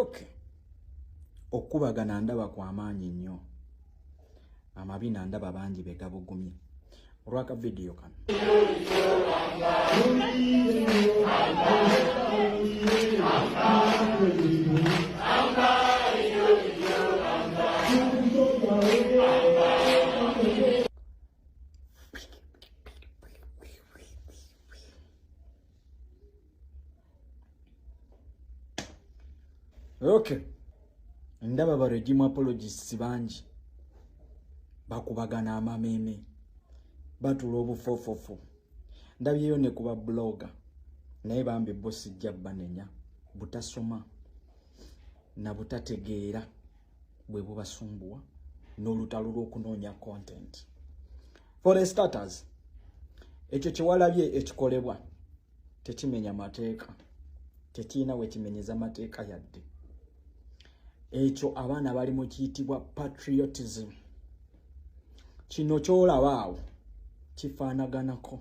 okay okukubagana ndaba kwamaanyi nnyo amabina ndaba bangi begabugumye olwaka vidiyo kano okay ndaba ba regime apologists bangi bakubagana amameeme batula obufofofu ndabyeyo ne kuba blogger naye bambi bo sijja banenya butasoma na butategeera bwe bubasumbuwa n'olutalo lw'okunoonya content for the starters ekyo kyewalabye ekikolebwa tekimenya mateeka tekirina wekimenyeza mateeka yadde ekyo abaana bali mu kiyitibwa patriotism kino kyolaba awo kifaanaganako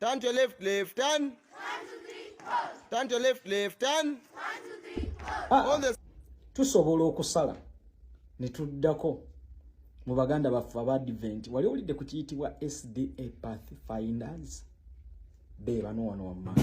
Turn to your left, left, turn. One, two, three, pause. Turn to your left, left, turn. One, two, three, pause. Ah, All the... tusobola okusala ne tuddako mu baganda baffe aba advent wali owulidde ku kiyitibwa sda path finders be bano wano wammanga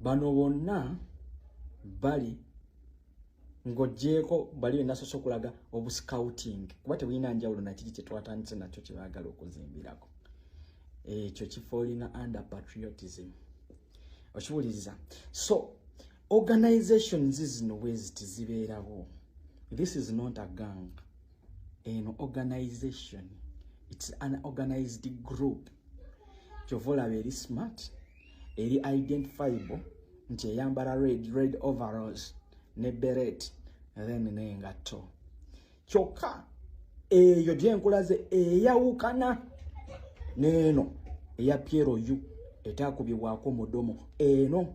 bano bonna bali ng'ogyeko bali benasoose okulaga obuscouting kuba tebulina njawulo nakiri kyetwatandise nakyo kyebagala okuzimbirako ekyo kifoolina under patriotism okiwuliriza so organizations zino bweziti zibeerawo this is not a gang eno organization its an organized group kyova olaba eri smart eri identifiable nti eyambala red red overalls ne beret then nengatto kyokka eyo gyenkulaze eyawukana neeno eya piero u etakubibwako mudomo eno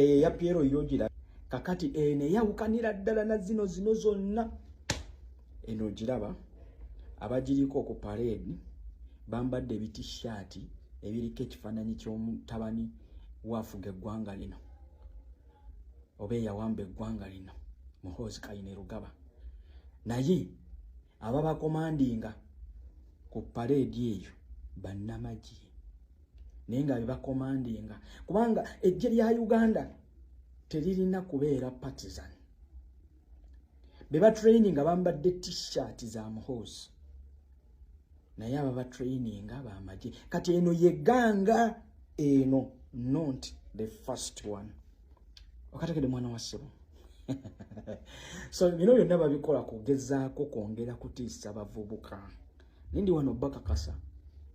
eyo eya piero yogira kakati eno eyawukanira ddala na zino zino zonna eno ogiraba abagiriko ku pareedi bambadde ebitishaati ebiriko ekifaananyi ky'omutabani waafuga eggwanga lino oba eyawamba eggwanga lino muhoozi kayine rugaba naye ababakomandinga ku pareedi eyo bannamagye naye nga bebakomandinga kubanga eggye lya uganda teririna kubeera partisan bebatraininga bambadde t-shirt za muhoozi naye ababa traininga bamagye kati eno yeganga eno not the first one okategede mwana wa ssebo so bino byonna babikola kugezaako kwongera kutiisa bavubuka nindi wano bakakasa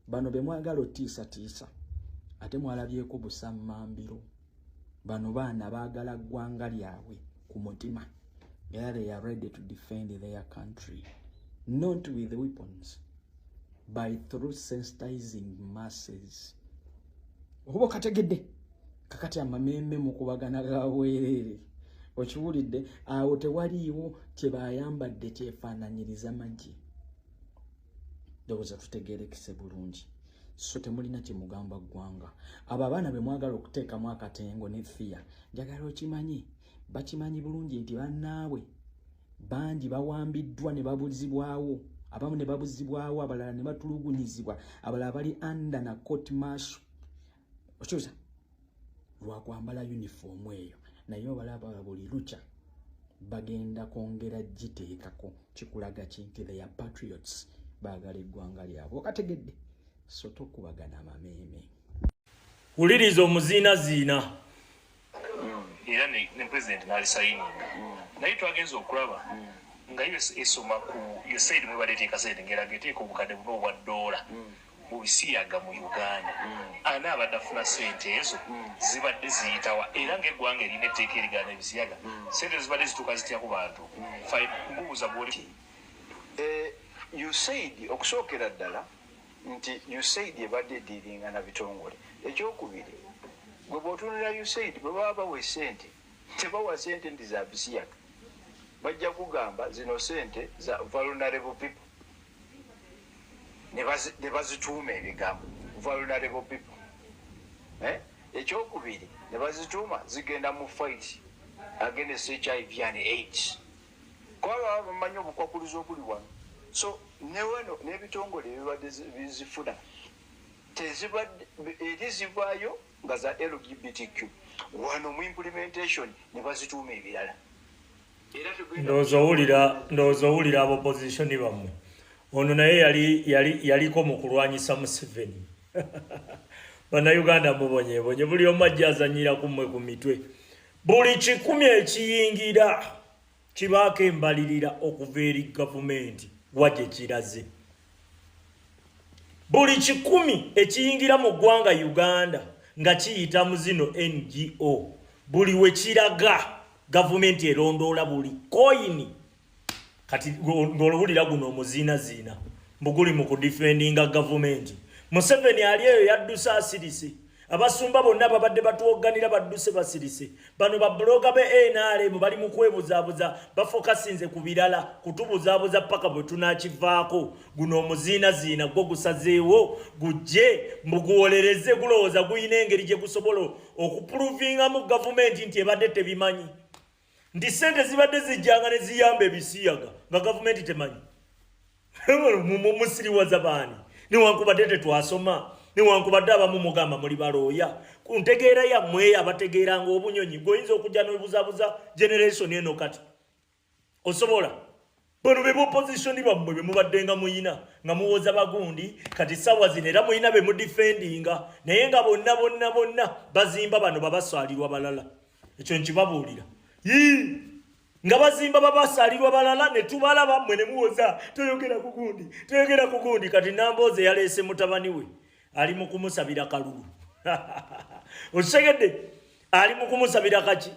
bano bemwagala otiisatiisa ate mwalabyeko busammambiro bano baana baagala ggwanga lyabwe ku mutima era they are ready to defend their country not with weapons by through sensitizing masses okuba okategedde kakati amameme mukubagana gawereere okiwulidde awo tewaliiwo kyebayambadde kyefaananyiriza magye ndowooza tutegerekese bulungi so temulina kyemugamba ggwanga abo abaana be mwagala okuteekamu akatengo ne fiya njagala okimanyi bakimanyi bulungi nti bannaabwe bangi bawambiddwa ne babuzibwawo abamu ne babuzibwawo abalala ne batulugunyizibwa abalala bali anda na court marsh okyusa lwakwambala yunifoomu eyo naye obalaba buli lukya bagenda kwongera giteekako kikulaga ki nti theya patriots baagala eggwanga lyabwe okategedde so tokubagana amameeme wuliriza omuziinaziina era ne pulezidenti n'alisayininga naye twagenza okulaba nga yo esoma ku usaid mwebaleteeka sente ngeraga eteeka obukadde buna obwa ddoola mu bisiyaga mu uganda ani abadde afuna sente ezo zibadde ziyitawa era ngaeggwanga erina etteeka erigana ebisiyaga sente zibadde zituuka zitya ku bantu mbuuza gwoli eh, usaid okusookera ddala nti usaid ebadde ediringa na bitongole ekyokubiri gwe bwotunira usaid bwe baba bawa esente tebawa sente nti za bisiyaga bajja kugamba zino sente za vulnerable people ne bazituuma ebigambo vulnerable people eh? ekyokubiri ne bazituuma zigenda mu fight against hiv and aids kuba baba bamanyi obukwakuluzi obuli wano so newano n'ebitongole ebibadde bizifuna tezibadde eri zivaayo nga za lgbtq wano mu implementation ne bazituuma ebirala ndowooza owulira ndowooza owulira abo opozisioni bammwe ono naye yali yali yaliko mu kulwanyisa museveni bannayuganda mubonyebonye buli omu ajja azanyira ku mmwe ku mitwe Buli kikumi ekiyingira kibaako embalirira okuva eri gavumenti wa gye kiraze. Buli kikumi ekiyingira mu ggwanga Uganda nga kiyita mu zino NGO buli we kiraga gavumenti erondoola buli koyini kati ng'olowulira guno omuziinaziina mbuguli mu kudifendinga gavumenti museveni ali eyo yadduse asirise abasumba bonna babadde batuwogganira badduse basirise bano babuloga be nrm bali mu kwebuzaabuza bafokasinze ku birala kutubuzaabuza paka bwe tunakivaako guno omuziinaziina gwo gusazeewo gujje mbuguwolereze gulowooza gulina engeri gye gusobola okupuluvingamu gavumenti nti ebadde tebimanyi nti ssente zibadde zijjanga ne ziyamba ebisiyaga nga gavumenti temanyi musiriwaza baani newankubadde tetwasoma newankubadde abamu mugamba muli balooya ku ntegeera yammwe abategeeranga obunyonyi gweoyinza okujja nobuzabuza generation eno kati osobola bano be bopozisioni bammwe be mubaddenga muyina nga muwoza bagundi kati sawa zino era muyina be mudifendinga naye nga bonna bonna bonna bazimba bano babasaalirwa balala ekyo nkibabuulira yii nga bazimba babasaalirwa balala ne tubalaba mmwe ne muwoza toyogera ku gundi toyogera ku gundi kati namboozi eyaleese mutabani we ali mu kumusabira kalulu okitegedde ali mu kumusabira kaki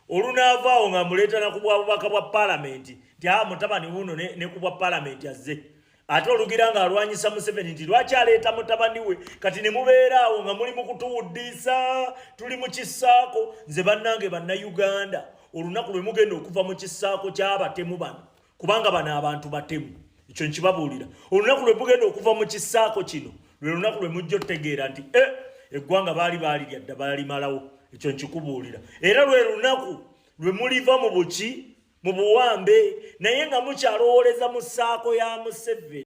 olunaava awo nga muleetana ku bwabubaka bwa palamenti nti a ah, mutabani wuno ne ku bwa palamenti azze ate olugira nga alwanyisa museveni nti lwaki aleeta mutabani we kati ne mubeera awo nga muli mu kutuwuddiisa tuli mu kisaako nze bannange bannayuganda olunaku lwe mugenda okuva mu kisaako ky'abatemu bano kubanga bano abantu batemu ekyo nkibabuulira olunaku lwe mugenda okuva mu kisaako kino lwe lunaku lwe mujja otegeera nti e eggwanga baali baalirya dda baalimalawo ekyo nkikubuulira era lwe lunaku lwe muliva mu buki mu buwambe naye nga mukyalowooleza mu saako ya museveni